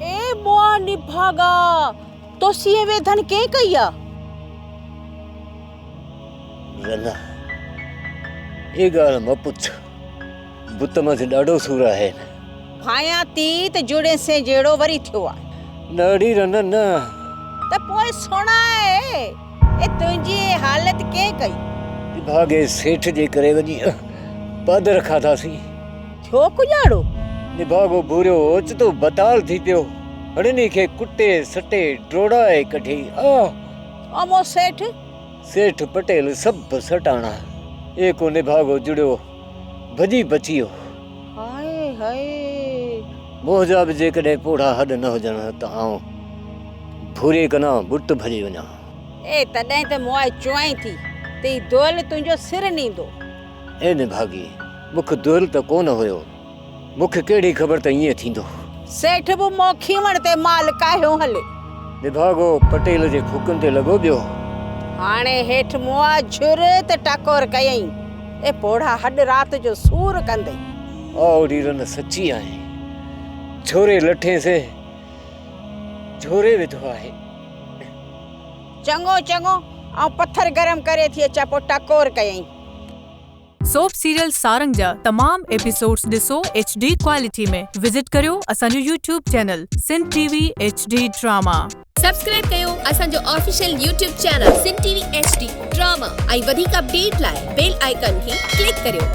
اي مئا نڀاڳا! تو سين ويڌن ڪين ڪئي آ؟ ڳلا! اي ڳالهه م پڇ، بت مٿي ڏاڍو سور آهين. ڀانيان تي ته جوڙين سين جهڙو وري ٿيو آ. نڙي رنن نه. ته پوء سڻاء. اي تنهنجي اي حالت ڪنهن ڪئي؟ نڀاڳي سيٺ جي ڪري وڃي پادر کاڌاسين. ٿيو ڪڄاڙو؟ نڀاڳو ڀوريو اوچتو بتال ٿي پيو. هڙني کي ڪٽي سٽي ڊوڙائي ڪڍي. آه! او مون سيٺ! سيٺ پٽيل سڀ سٽاڻا. اي ڪو نڀاڳو جڙيو. ڀڄي بچي ويو. هائي هائي! موهه جا به جيڪڏهن پوڙها هڏ نه هجن ها ته آئون ڀوري ڪنان ٻٽ ڀڄي وڃان. اي تڏهن ته مون آء چوائين ٿي ته هي دؤل تنهنجو سر نيندو. اي نڀاڳي! مک دؤل ته ڪونه هيو. مون کي ڪهڙي خبر ته ائين ٿيندو. سيٺ به موکيوڻ تي مال ڪاهيو هلي. نڀاڳو پٽيل جي ڦوڪن تي لڳو ٻيو. هاڻي هيٺ مئا جھر تي ٽڪور ڪيئين. اي پوڙها هڏ رات جو سور ڪندي. آء اڙي رن سچي آهين. جھوري لٺين سين جھوري وڌو آهي. چڱو چڱو آئون پٿر گرم ڪري ٿي اچان پوء ٽڪور ڪيئين. سوپ سيريل سارنگ جا تمام ايپيسوڊز ڏسو ايڇ ڊي ڪوالٽي ۾ وزٽ ڪريو اسان جو YouTube channel Sindh T V H D drama. Subscribe ڪيو اسان جو official YouTube channel Sindh T V H D drama ۽ وڌيڪ اپڊيٽ لاء بيل آئيڪان کي ڪلڪ ڪريو.